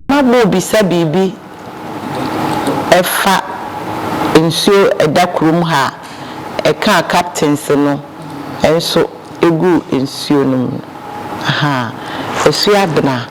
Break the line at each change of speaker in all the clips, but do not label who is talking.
Mma morebisa biribi ɛfa nsuo ɛda kurom ha a ɛkaa captains no nso ɛguu nsuo no mu no, ahaa, Asuo Abena.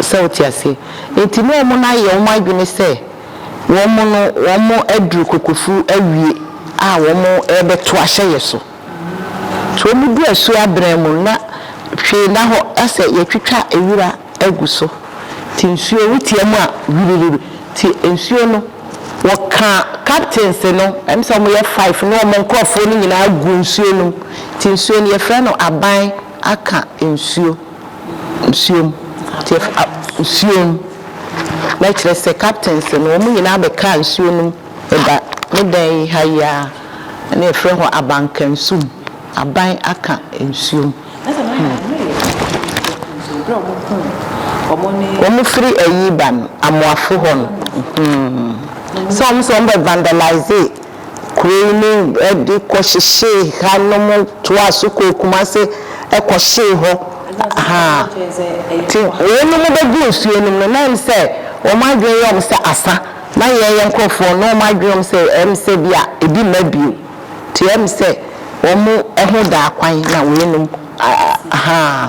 Sɛ wote aseɛ? Enti ne wɔn ayɛ wɔn adwene sɛ wɔn no wɔn aduru kokofu awie a wɔn rebɛto ahyɛ yɛ so. Nti wɔn du asuo abena mu no na hwee nna hɔ asɛ yɛatwitwa wira agu so nti nsuo wo tia mu a hwiririri nti nsuo no wɔka captains no ɛm sɛ wɔn yɛ five ne wɔn nkorɔfoɔ no nyinaa gu nsuo no mu nti nsuo no yɛfrɛ no aban aka nsuo, nsuom, tiɛ fa, nsuom, na kyerɛ sɛ captains no, wɔn nyinaa bɛkaa nsuo no mu ba me dan yi ha yi ara, na yɛfrɛ hɔ Abankansum, aban aka nsuom. Wɔn firi ayi ba no, Amoafo hɔ no, hmm, sɛ wɔn sɛ wɔn bɛ vandalise. Kuro yi mu de kɔhyehyee ha nom toaa so kɔɔ Kumase kɔhyee hɔ haa nti wɔnom bɛgu nsuo nom no na ɛm sɛ wɔn adwene yɛ wɔn sɛ asa na yɛn yɛn nkorɔfoɔ no wɔn adwene wɔn sɛ ɛm sɛ bi a ɛbi mma bio nti ɛm sɛ wɔn ho daa kwan na wɔnom haa.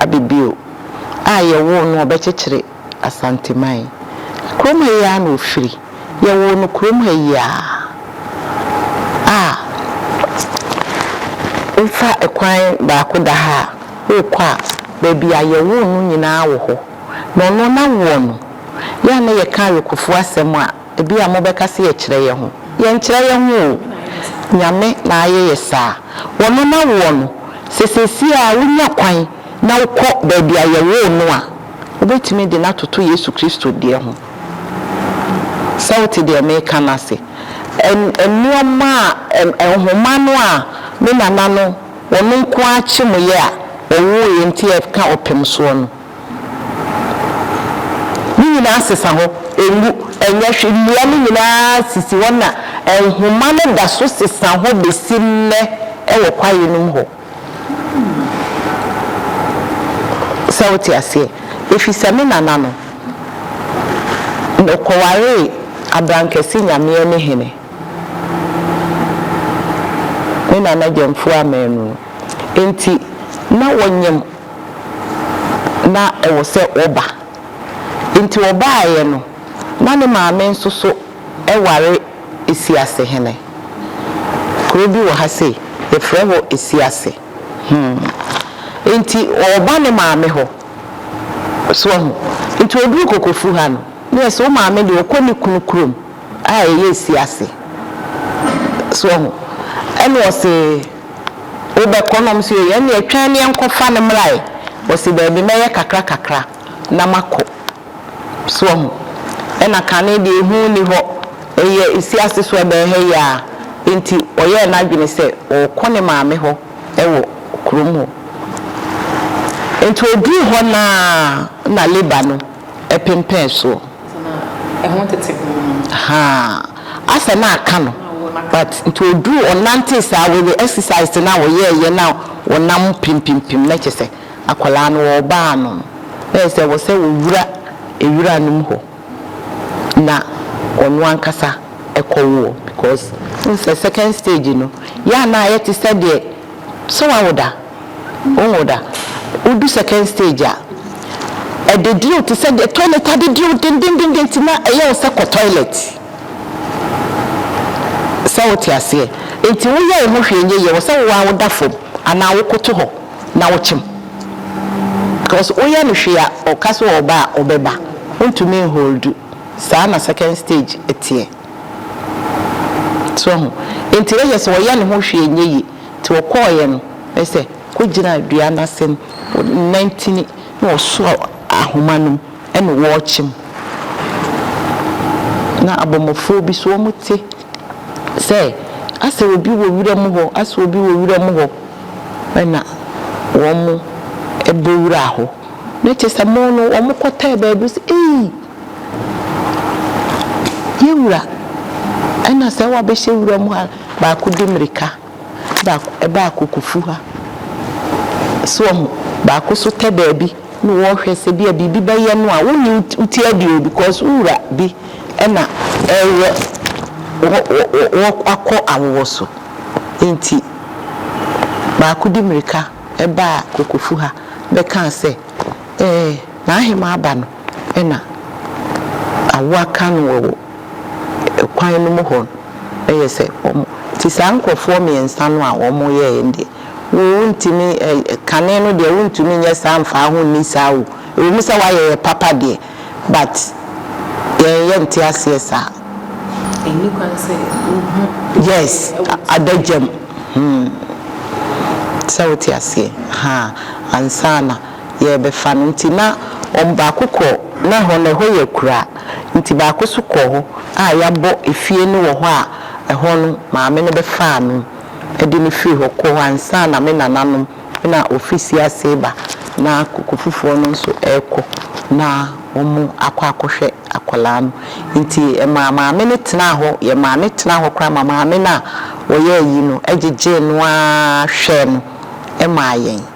Abibio a yɛwoo no ɔbɛkyekyere Asanteman. Kurom ha yi ara na ɔfiri. Yɛwoo no kurom ha yi ara a wofa kwan baako da ha a worekɔ a, baabi a yɛwoo no nyinaa wɔ hɔ. Na ɔno na woɔ no. Yɛ a na yɛka Awekofoɔ asɛm a, Ebia mobɛka sɛ yɛkyerɛ yɛn ho. Yɛnkyerɛ yɛn ho oo. Nyame na ayɛ yɛ saa. Ɔno na woɔ no. Sɛ seesei ara wonya kwan na wokɔ baabi a yɛwoo no a, wobɛtumi de no atoto Yesu Kristo deɛ ho. Sɛ wote deɛ mereka no ase? Ɛ, nnoɔma a, ɛ, nhoma no a me nana no, ɔno nko ara kyemoeɛ a ɔwoeɛ nti ɛka ɔpem soɔ no. Ne nyinaa sesa hɔ, enwu, ɛnyɛ hwee. Nnua no nyinaa sisi hɔ na nhoma no da so sesa hɔ besi nnɛ wɔ kwae no mu hɔ. Sɛ wote aseɛ? Efisɛ me nana no, ɔkɔwaree abrankɛse nyameɛ ne hene, ne nana Gyamfua Amanu no. Enti na wɔnyem. na ɛwɔ sɛ wɔba. Enti wɔbaeɛ no, na ne maame nso so ware Asiasehene. Kuro bi wɔ ha sei, yɛfrɛ hɔ Asiase. Hmm. Enti ɔreba ne maame hɔ. So ahu? Enti ɔduru Kokofu ha no, na yɛse wo maame deɛ ɔkɔ ne kunu kurom a ɛyɛ Asiase. So ahu? Ɛna ɔse. Wobɛkɔ? Na wɔse, Yɛn deɛ twɛn ne yɛnkɔfa no mmra ɛ. Ɔse, Daabi, mɛyɛ kakra kakra na makɔ. So wahu? Ɛna kane deɛ ehu nni hɔ, ɛyɛ asiase so, ɛbɛn ha yi ara. Enti ɔyɛɛ n'adwene sɛ ɔrekɔ ne maame hɔ wɔ kurom hɔ. Enti ɔduu hɔ no ara na Laban no. pempɛn soɔ.
Haa
asɛ na aka no but nti ɔduruu ɔnantee saa wei exercise no a ɔyɛɛyɛ na ɔnam pempimpim na kyerɛ sɛ akwadaa no ɔreba ano no na ɛyɛ sɛ ɛwɔ sɛ ɔwura nwura no mu hɔ na ɔno ankasa kɔ woɔ because wohu sɛ second stage no yɛ a na ayɛ te sɛ deɛ sɛ wawo da. Wohu da, wodu second stage a, adediriw te sɛ deɛ toilet adediriw dendendenden nti na ɛyɛ wo sɛ kɔ toilet. Sɛ wote aseɛ? Nti woyɛ wo ho hwee nyɛ yie, ɛwɔ sɛ wo ara woda fam anaa wokoto hɔ na wokyem. Because woyɛ no hwee a, ɔka sɛ ɔreba a, ɔbɛba. Wontumi nholdu. Saa na second stage teɛ. So woahu? Nti na kyerɛ sɛ ɔyɛ ne ho hwee nyɛ yie. Nti wɔkɔɔeɛ no, bɛyɛ sɛ kɔgyinaa dua no ase no, wɔnantini na wɔsoaa ahoma no mu ɛne wɔɔkye mu. Na abɔmmɔfoɔ bi nso wɔte sɛ asɛ obi wɔ wura mu hɔ, asɛ obi wɔ wura mu hɔ, ɛna wɔbɔ wura hɔ. Na kyerɛ sɛ wɔn no wɔkɔtɛɛ baabi sɛ ei Yɛ wura, ɛna sɛ wabɛhyɛ wura mu a, baako di mmirika, baako ɛba akokofu ha. So wɔn, baako so tɛ baabi na wɔrehwɛ sɛ bi a biribi bɛyɛ no a, wonni wo ti adi o because wo wura bi ɛna ɛreyɛ wɔ wɔ wɔ akɔ awowɔ so. Nti baako di mmirika ɛba akokofu ha bɛka sɛ, Ɛɛ, n'ahemaa aba no. Ɛna awo aka no wɔ kwan no mu hɔ no ɛyɛ sɛ wɔn nti saa nkorɔfoɔ mmiɛnsa no a wɔn yɛɛ no deɛ wo ntumi kane no deɛ wo ntumi nyɛ saa mfaa ho nni saa o ɛwɔ mu sɛ wayɛ yɛ papa deɛ but yɛn yɛ nte aseɛ saa. Ɛnni
kwan sɛ wo hu. Yes
adagya mu hmm sɛ wo te aseɛ haa ansa na. yɛrebɛfa no nti, na wɔn baako kɔ, na ɛhɔ no, ɛhɔ yɛ akuraa nti baako nso kɔɔ hɔ a yɛabɔ efie no wɔ hɔ a ɛhɔ no maame no bɛfaa no de no firii hɔ kɔɔ hɔ ansa na me nananom na wɔfiri Siase reba na koko foforɔ no nso rekɔ na wɔakɔ akɔhwɛ akwadaa no nti ɛmaa maame no tenaa hɔ, yɛ maame tenaa hɔ koraa ma maame no a ɔyɛ ayi no gyegyee no ara hwɛɛ no maa yɛn.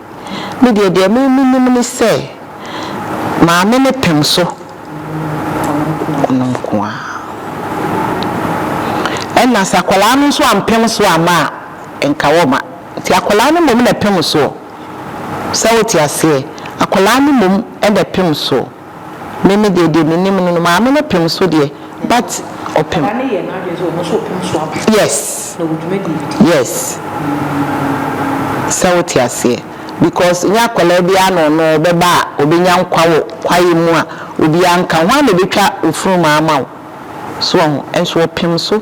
Me deɛ, deɛ me menim ne sɛ maame no pem so ɔno nko ara. Ɛna sɛ akwadaa no nso ampem so amma a, nka wɔmma. Nti akwadaa no mmom na ɛpem soɔ. Sɛ wote aseɛ? Akwadaa no mmom na ɛpem soɔ. Me me deɛ deɛ me nim no no maame no pem so deɛ but ɔpem. Papa no yɛ n'adwene sɛ ɔno nso ɔpem so aba. Yes. Na ɔwɔ dwumadie bi di. Yes. Sɛ wote aseɛ because nyɛ akwadaa biara na ɔno ɔbɛba a ɔbɛnya nkwa wɔ kwaeɛ mu a obiara nka ho a na ɛbɛtwa ofunumaa ama wo so wahu nso ɔpem so.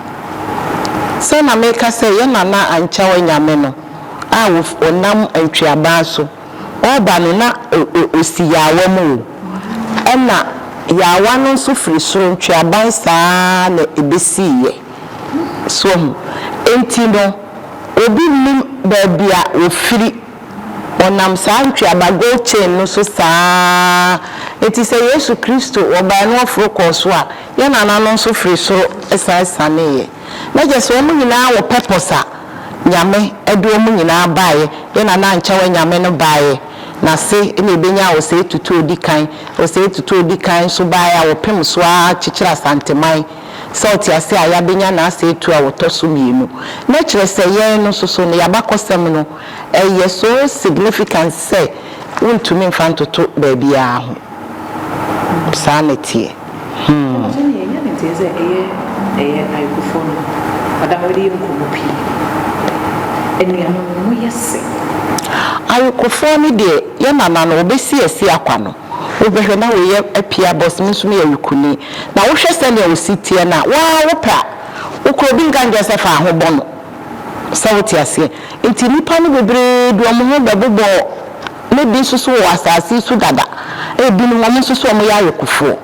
Sɛ na meka sɛ yɛn nana Ankyɛw Anyame no a ɔnam Antweaban so ɔreba no na ɔsi yaawa mu o, ɛna yaawa no nso firi soro Ntweaban saa ara na ɛbɛsiiɛ. So ahu? Enti no, obi nnim baabi a wɔfiri. Wɔnam saa ntweaba, gold chain, no so saa ara. Enti sɛ Yesu Kristo, Ɔbae no Ɔforo kɔɔ so a, Yɛn nananom nso firi soro san sianeeɛ. Na gye sɛ wɔn nyinaa wɔ purpose a Nyame de wɔn nyinaa baeɛ, Yɛn nana ankyɛ wɔ Nyame no baeɛ, N'ase na ɛbɛnya Osei Tutu Odikan. Osei Tutu Odikan nso baeɛ a wɔpem so ara kyekyere Asanteman. Sɛ wote aseɛ a, yɛabɛnya N'asɛetuo a wɔtɔ so mmienu. Na ɛkyerɛ sɛ yɛn no nso so no, yɛn abakɔsɛm no, Ɛyɛ so significant sɛ wontumi mfa ntoto baabiara ho. Saa na ɛteɛ. Hmm. Ɛno deɛ ɛnyɛ ne nteɛ sɛ ɛyɛ ɛyɛ ayɔkofoɔ no
ada hɔ de yɛ nkɔmmɔ pii. Anuanom no, moyɛ sɛ.
Ayɔkofoɔ no deɛ, yɛn nana no, ɔbɛsi asi akwa no, wobɛhwɛ na woyɛ apia bɔs, me nso meyɛ ayukuni, na wohwɛ sɛdeɛ wo se teɛ no a, wo ara wopɛ a, wokura obi nka nkyerɛ sɛ fa ho bɔ no. Sɛ wote aseɛ? Nti nnipa no bebree de wɔn ho bɛbobɔ ne bi nso so wɔ asase yi so dada. Ebinom, wɔn nso so wɔyɛ ayekofoɔ.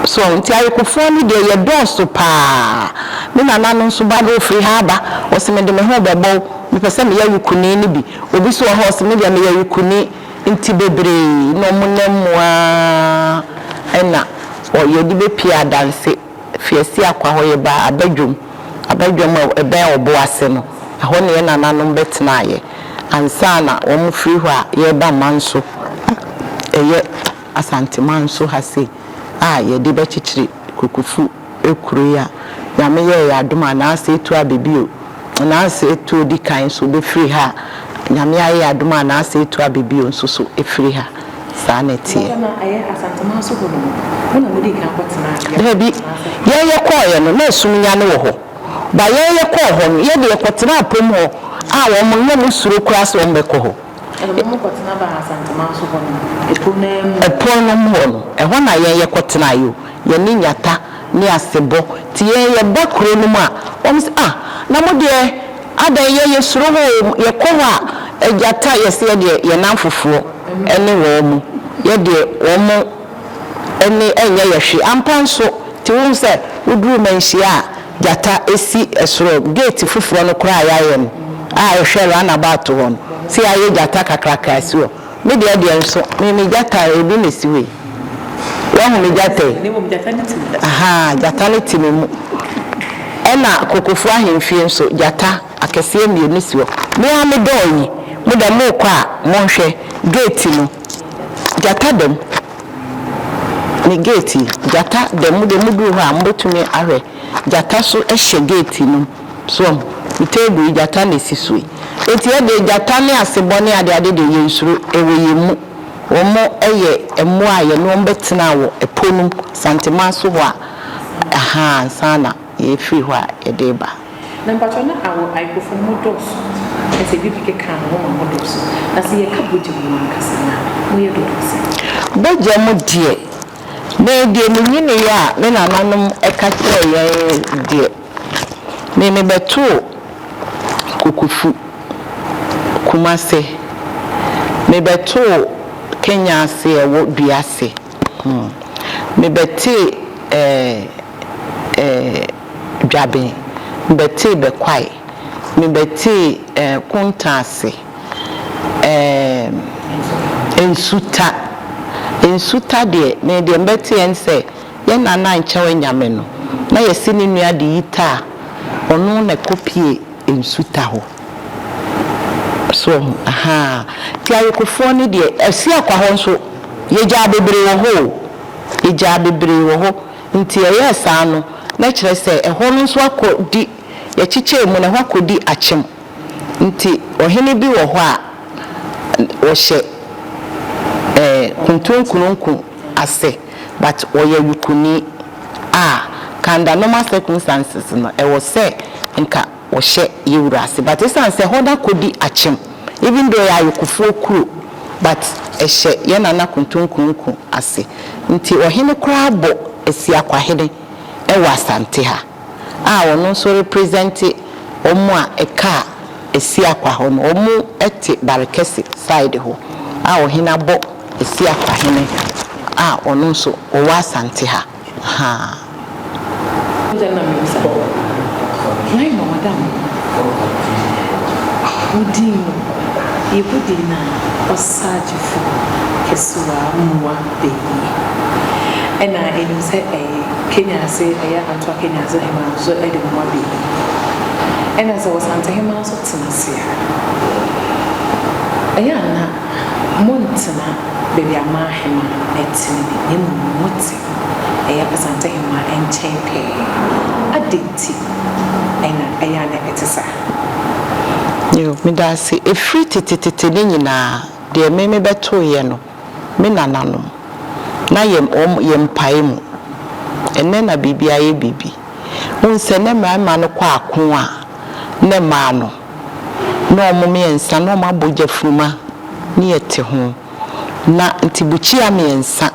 So, nti ayekofoɔ no deɛ yɛdɔɔso pa ara. Me nana no nso ba no, ɔfiri ha aba, ɔse mede me ho bɛbɔ wo, mepɛ sɛ meyɛ ayekoni no bi. Obi nso wɔ hɔ a, ɔse me deɛ meyɛ ayekoni. Nti bebree na wɔn nam mu ara na wɔyɛ de bɛpue adanse, firi Asiakwa hɔ yɛba abadwam. Abadwam a ɛbɛn ɔbo ase no, ɛhɔ na yɛn nananom bɛtenaeɛ ansa na wɔafiri hɔ a yɛreba man so a ɛyɛ Asanteman so ha sei a yɛde bɛkyekyere Kokofu kuro yi a Nyame yɛɛ yɛn adom a Nansa Etuo Abebio, Nansa Etuo di kan nso bɛfiri ha a Nyame ayɛ yɛn adom a Nansa Etuo Abebio nso so firi ha. Saa na ɛteɛ.
Daabi. Yɛn
yɛkɔeɛ no, na ɛsum nyane wɔ hɔ. Ba yɛn yɛkɔɔ hɔ no, yɛn deɛ yɛkɔtenaa apom hɔ a wɔn no, na wɔn suro koraa sɛ wɔn bɛkɔ hɔ. Ɛna wɔn kɔtena
baa Asantuma nso hɔ no, ɛpono no ara mu. Ɛpono no mu hɔ
no, ɛhɔ na yɛn yɛkɔtenaeɛ o. Yɛne Nyatta ne Asebɔ te yɛn yɛn ba kuro no mu a, wɔn se ah na mo deɛ adɛn yɛ yɛ suro hɔ oo, yɛ kɔ hɔ a Agyatta yɛ se yɛ deɛ yɛ nanfofoɔ ne wɔn mo, yɛ deɛ wɔn mo ne ɛnyɛ yɛ hwe. Ampa nso, te wohu sɛ wo duru Manhyia a Gyatta si soro gate foforɔ no koraa a yɛ ayɛ no a ɛhwɛ run about hɔ no, se yɛ ayɛ Gyatta kakraka asi hɔ. Me deɛ deɛ nso me me gyata ebi na esi hɔ yi wahu me gyata yi
ahaa gyata no te
me mu ɛna kokofuo ahemfie nso gyata akɛseɛ mmienu si hɔ me ara me dɔɔ yi mo dɛ mo rekɔ a mo nhwɛ gate no gyata dɛm me gate yi gyata dɛm mo deɛ mo duru hɔ a mo betumi ahwɛ gyata so hyɛ gate no mu. So wo table yi gyata na esi so yi? Enti yɛ deɛ gyata ne asebɔ ne adeade deɛ yɛn nsuro, ɛwɔ yɛn mu. Wɔn yɛ mmoa a yɛne wɔn bɛ tena wɔ ɛpo nom, Santeman so hɔ a, ahaa, ansa na yɛ firi hɔ a yɛ de ba. Na mpakyɛw na
awɔ Aipofoɔ no mo dɔɔso na sɛ bibi keka a na mo ma mo dɔɔso, na sɛ yɛ ka bogya mu no ankasa no a mo yɛ dodoɔ sɛn? Bogya mu
deɛ, me deɛ me nyineeɛ a me nananom ka kyerɛɛ yɛn deɛ. Me me bɛtoo Kokofu, Kumase, me bɛtoo Kenya ase ɛwɔ dua ase, me bɛtee eh eh Dwaben, me bɛtee Bɛkwae, me bɛtee eh Kunta ase, eh Nsuta, Nsuta deɛ me deɛ me bɛteɛ ne sɛ. Yɛn na na nkyɛw anyame no, na yɛse ne nua de yi ta a, ɔno na ɛkɔ pie nsu ta hɔ. So wahu? Ahaa. Nti ayekofoɔ no deɛ, Asiakwa hɔ nso, yɛgyaa bebree wɔ hɔ o. Yɛgyaa bebree wɔ hɔ. Nti yɛyɛɛ saa no, na kyerɛ sɛ ɛhɔ no nso akɔ di, yɛkyekyɛɛ mu no, ɛhɔ akɔ di akyem. Nti ɔhene bi wɔ hɔ a, ɔhyɛ ɛɛ Kuntunkununku ase. But ɔyɛ yukuni a ka under normal circumstances no ɛwɔ sɛ nka ɔhyɛ yɛwura ase but ɛsiane sɛ ɛhɔ no akɔdi akyem even though ɛyɛ ayokofoɔ kuro but ɛhyɛ yɛn Nana Kontonkromku ase nti ɔhene koraa bɔ Asiakwahene ɛwɔ Asante ha. a ɔno nso represente wɔn a ɛkaa Asiakwa hɔ no wɔn te Barekɛse side hɔ a ɔhene abɔ Asiakwa hene a ɔno nso ɔwɔ Asante ha haa. Wode nam me nsa bɔkɔ
Why ma madam Wo din mu yɛbɔ din no a Ɔsagyefo kɛse w'amoa. da yie. Ɛna ɛnim sɛ ɛye Kenyase ɛyɛ Antoa Kenyase hemaa nso de mmoa da yie. Ɛna sɛ Ɔsante hemaa nso tena ase a, ɛyɛ a na montena baabi a amaa hemaa ɛte no bi, na mmom mote ɛyɛ Ɔsante hemaa nkyɛn pɛɛ. Adɛn nti ɛna ɛyɛ a na ɛte saa?
Yo, meda ase. Ɛfiri tetetete no nyinaa, deɛ me mebɛtoeɛ no, Me nananom, na yɛm wɔn yɛ mpae mu. Ɛnnɛ na biribi ayɛ biribi. Wohu sɛ nnɛ mmarima no kɔ ako a, nnɛ mmaa no, na wɔn mmiɛnsa na wɔn abɔ gyafunuma ne yɛte ho. Na nti bukyia mmiɛnsa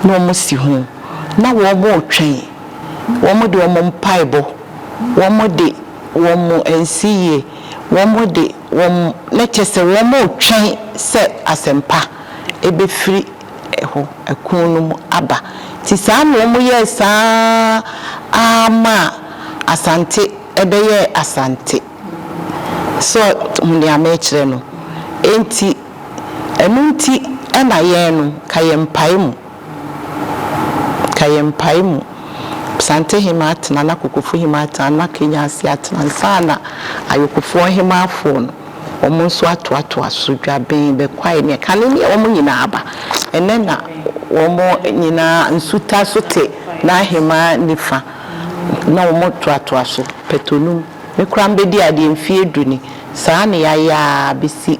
na wɔn si ho, na wɔn retwɛn, wɔn de wɔn mpaebɔ, wɔn de wɔn nsiyie, wɔn de. wɔn na kyerɛ sɛ wɔretwɛn sɛ asɛmpa bɛfiri hɔ, ɛko no mu aba. Nti saa na wɔyɛɛ saa ara maa Asante bɛyɛɛ Asante. So hu deɛ merekyerɛ no? Nti ɛno nti na yɛn no, ka yɛn mpae mu. Ka yɛ mpae mu. Psantehema atena na Kokofuhema atena na Kenyansi atena ansa na Ayokofoɔ nhemaafoɔ no wɔn nso atoatoa so. Dwaben, Bɛkwae ne Ɛkane ne wɔn nyinaa aba. Ɛnnɛ na wɔn nyinaa Nsuta so te n'ahemaa nifa na wɔn toatoa so. Pɛtonum, Me koraa mebɛdi adeɛ mfeɛ du ni. Saa na yɛayɛ ara bɛsi.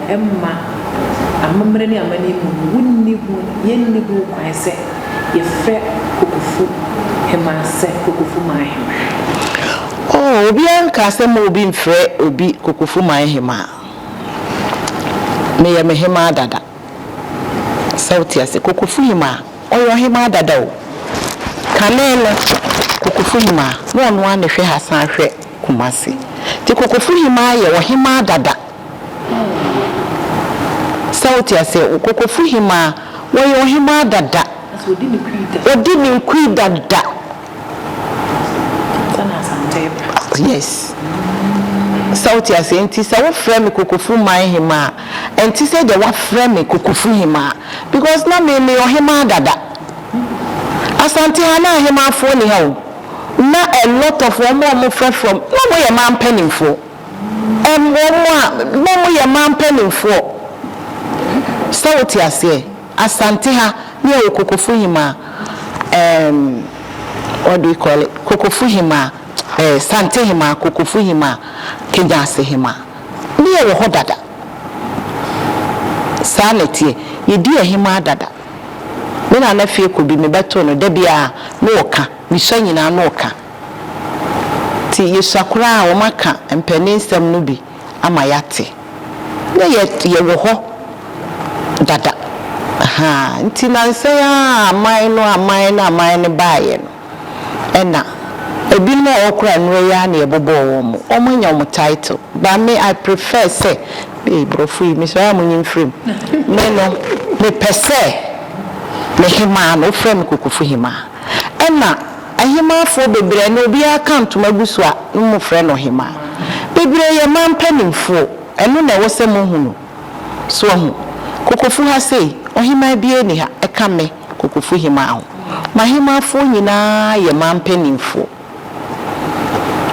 mma amammerɛ ne amanne mu no, wonni ho, yenni ho kwan sɛ yɛfrɛ Kokofu hemmaa sɛ Kokofu man hemmaa.
Oh, obiara nkaa sɛ mma obi mfrɛ obi Kokofu man hemmaa. Meyɛ me hemmaa dada. Sɛ wote aseɛ, Kokofu hemmaa, ɔyɛ ɔhemmaa dada o. Kane no, Kokofu hemmaa, na ɔno ara na ɛhwɛ ha san hwɛ Kumasi. Nti Kokofu hemmaa yɛ ɔhemmaa dada. Sɛ wote aseɛ, Kokofo hemaa, wɔyɛ ɔhemaa dada. Ɔdi ne nkui dada. Ansa na Asante reba.
Yes.
Sɛ wote aseɛ, nti sɛ wofrɛ me Kokofo man hemaa a, ɛnte sɛ deɛ woafrɛ me Kokofo hemaa because na me, meyɛ ɔhemaa dada. Asante ha na ahemaafoɔ nni ha o. Na a lot of wɔn a wɔfrɛ from, na wɔyɛ mmaa mpanimfoɔ. Mmom mo a na mo yɛ man mpaninfoɔ, sɛ wo te aseɛ, Asante ha ne yɛ wɔ Kokofuhimaa eem what do you call it Kokofuhimaa eh Santehimaa Kokofuhimaa Kegyasehimaa ne yɛ wɔ hɔ dada saa na ɛteɛ yɛ di ahimaa dada me Nana Fie Kobi me bɛ to no da biara no ɔka me sua nyinaa no ɔka. Ntsi yesua koraa wɔakã mpanin nsɛm no bi ama yɛatse. Nna yɛ yɛwɔ hɔ dada ahaa ntsi nansɛ yi ara a aman no aman no aman no baeɛ no nna binom a wɔwɔ koraa nnora yi ara na yɛbɔbɔɔ wɔn mo wɔn anya wɔn title but me I prefer sɛ ei brɔfo yi mesɔre a monyi mfiri mu me no mepɛ sɛ me hemaa no wofrɛ me Kokofo Hemaa. Ɛna Ɔhemaafoɔ bebree ɛna obiara ka ntoma gu so a ne mo frɛ no Ɔhemaa. Bebree yɛ man panimfoɔ ɛno na ɛwɔ sɛ mo hu no. So wahu? Kokofu ha sei Ɔhemaa biara nni ha ɛka me Kokofu Hemaa ho. M'ahemaafoɔ nyinaa yɛ man panimfoɔ.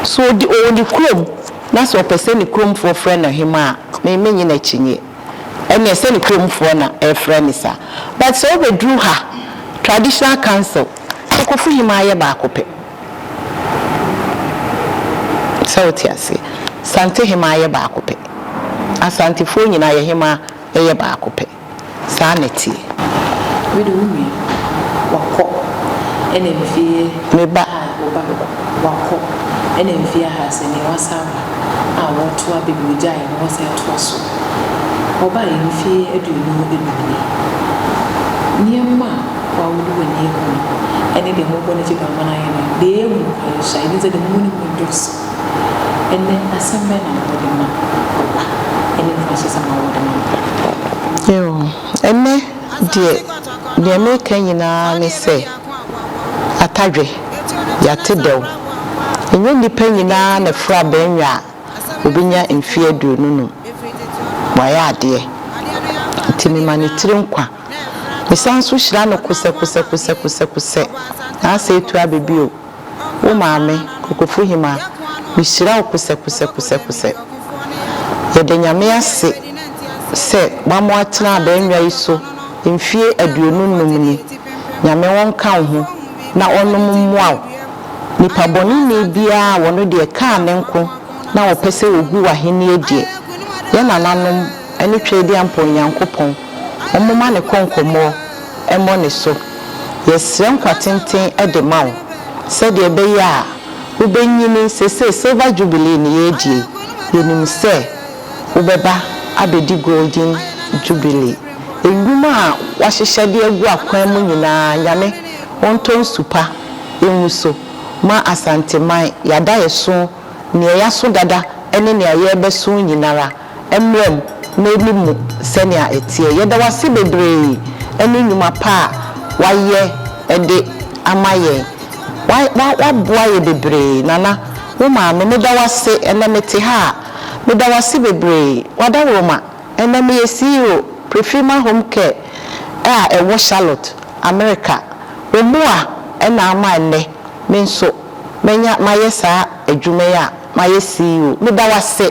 So ɔdi ɔwɔ ne kurom na sɛ ɔpɛ sɛ ne kuromfoɔ frɛ no Ɔhemaa a me me nye n'akyinnyeɛ. ɛneɛ sɛ ne kurom foɔ na ɛfrɛ no saa but sɛ wobɛduru ha traditional council sɛ kofohim ara yɛ baako pɛ sɛ wote aseɛ santehem ara yɛ baako pɛ asantefoɔ nyinaa yɛhem ara yɛ baako pɛ saa na ɛteɛ.
Wede wo nua wakɔ ɛna mfie me ba wo ba
wakɔ
ɛna mfie aha sɛ neɛ wasan aba. a wɔtoa baabi a wɔgyae na wɔsan toa so. Wɔbaeɛ mfeɛ aduonu enum nie. Nneɛma a wɔawo no wɔ nniaku mu ne deɛ wɔbɔ no gye bɛama no ayɛ no, deɛ ɛyɛ hu paa yi so a, yɛnim sɛ deɛ wɔwɔ no mu no dɔɔso. Ɛnnɛ, asɛm bɛn na wɔde ma ɔba ne mfrasesɛm a wɔde ma no?
Ɛnnɛ deɛ, deɛ mereka nyinaa ne sɛ. Atadwe, Yɛate dɛw. Ɛnyɛ nnipa nyinaa na firi aba nwa a wɔbɛnya mfeɛ aduonu num. Wɔayɛ adeɛ. Enti mema ne tiri nkwa. Mesan nso hyira no kosɛkosɛkosɛkosɛkosɛ. N'asɛe tu abɛ bio. Wo maame, Kokofuhima, mehyira wo kosɛkosɛkosɛkosɛ. Yɛda Nyame ase sɛ wama woatena abannwa yi so mfie aduonu nnum ni. Nyame ɔnka wo ho na ɔnom mmoa wo. Nipa bɔneni biara a ɔno deɛ kaa ne nko na ɔpɛ sɛ ɔgu w'ahennie deɛ, yɛn nananom ne Tweediampɔn Nyankopɔn ɔmoma ne kɔnkɔmmɔɔ mmɔ ne so. Yɛsrɛ nkwa tenten de ma wo sɛdeɛ ɛbɛyɛ a wobɛnyini. Seesei Silver Jubilee ne yɛredie yi, yɛnim sɛ wobɛba abɛdi Golden Jubilee. Nnwuma a woahyehyɛ de agu akwan mu nyinaa, Nyame ɔntɔ nsu pa ngu so ma Asanteman. Yɛada yɛso, nea yɛaso dada ne nea yɛrebɛso nyinara. mmra mu na ɛni mu sɛnea ɛteɛ. Yɛda wo ase bebree ne nnwuma pa a woayɛ de ama yɛn. Woaboa yɛn bebree. Nana, wo maame, meda wo ase. Ɛnnɛ mete ha a, meda wo ase bebree. W'adaworoma, ɛnnɛ meyɛ CEO, Prefirma Home Care a ɛwɔ Charlotte, Amerika. Wo mmoa na ama ɛnnɛ me nso manya mayɛ saa adwuma yi a mayɛ CEO. Meda wo ase.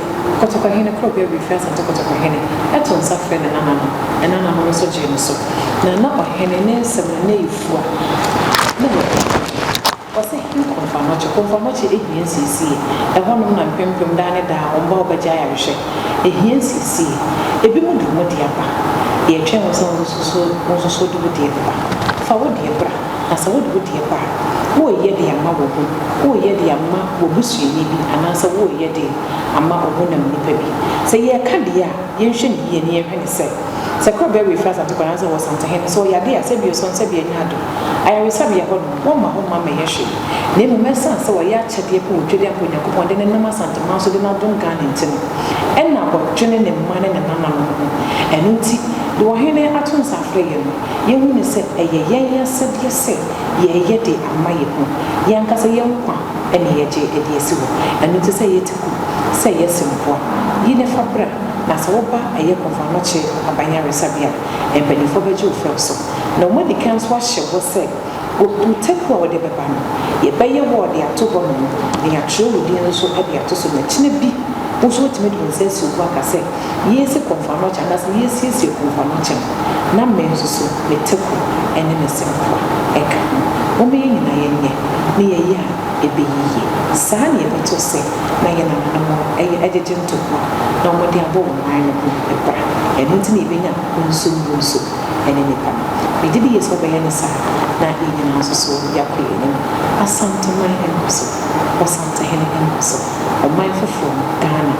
Kɔtɔkɔhene Korɔbea Wii frɛɛ Asante Kɔtɔkɔhene, ɛtoo nsa frɛɛ ne nananom, ne nananom nso gyee no so. Na na ɔhene ne nsɛm no na efua, na na ɛyɛ den. Ɔse he Komfamɔkye, Komfamɔkye ehia nsiesie. Ɛhɔnom na mpempem daa ne daa wɔn ba a wɔbɛgye ayarehwɛ. Ehia nsiesie. Ebinom de wɔn deɛ ba. Yɛtwɛn wo sɛ wo nso so wo nso so wode wo deɛ bɛba. Fa wo deɛ bra. Na sɛ wode wo deɛ ba a, woreyɛ de ama wo ho, woreyɛ de ama w'abusuani bi anaasɛ woreyɛ de ama ɔhonam nipa bi. Sɛ yɛreka deɛ a, yɛnhwɛ no yie na yɛnhwɛ no sɛ, sɛ kora bɛwe firi Asante kora anaasɛ wɔ Santehen no, sɛ ɔyɛ adeɛ a, sɛ bi ɔsane sɛ bi anya adom. Ayaresabea hɔ nom, wɔmma hɔ mma mmɛyɛ hwee. Na mmom ɛsiane sɛ wɔyɛ akyɛdeɛ pɛ wɔ Twedi Ampa Onyankopɔn de no nam Asanteman so de no adom Ghana nti no, ɛna wɔdwene ne mma ne ne nananom ho. Ɛno nti, deɛ ɔhene ato nsa afrɛ yɛn no, Yɛahu no sɛ ɛyɛ yɛn asɛdeɛ sɛ yɛreyɛ de ama yɛn ho, yɛn ankasa yɛn nkwa na yɛgye de asi hɔ. Ɛno nti sɛ yɛte ku, sɛ yɛse mmoa, yi na fa bra, na sɛ woba ɛyɛ Kɔmfoanɔkye Aban Yaresabea a, mpaninfoɔ bɛgye wo fɛw so. Na wɔn adi kan nso ahyɛ bɔ sɛ wo taku a wode bɛba no, yɛbɛyɛ wɔ de ato hɔ nom, na yɛatwerɛ wo din nso de ato so, na kyena bi wo nso wɔatumi de wo nsa asi wo bo aka sɛ, Yesi Komfanokyɛ anaasɛ Yesiesie Komfanokyɛ no, na me nso so me teko ne me sempoa ka ho. Momma yɛn nyinaa yɛnyɛ na yɛyɛ a ɛbɛyi yie. Saa na yɛbɛto se na yɛn ananom yɛ agyegye ntɔkwa na wɔde abɔ wɔn nan no ho bra. Ɛno nti na yɛbɛnya ho nsummuruso ne nnipa no. Megye di yie sɛ wobɛyɛ no saa na yɛn nyinaa nso so yɛakɔ yɛn anim. Asanteman nkɔso, Ɔsantehene nkɔso. Ɔman foforɔ no, Ghana,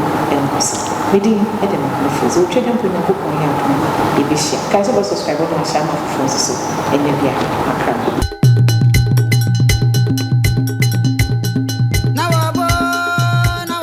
nkɔ so. Me din de Maame Frozy. Otwa dɛ mpo Nyankopɔn yɛ adom a, yɛbɛhyia. Kae sɛ wobɛ subscribe na wahyɛ ama afoforɔ nso so ɛnyɛ bia. Makrama.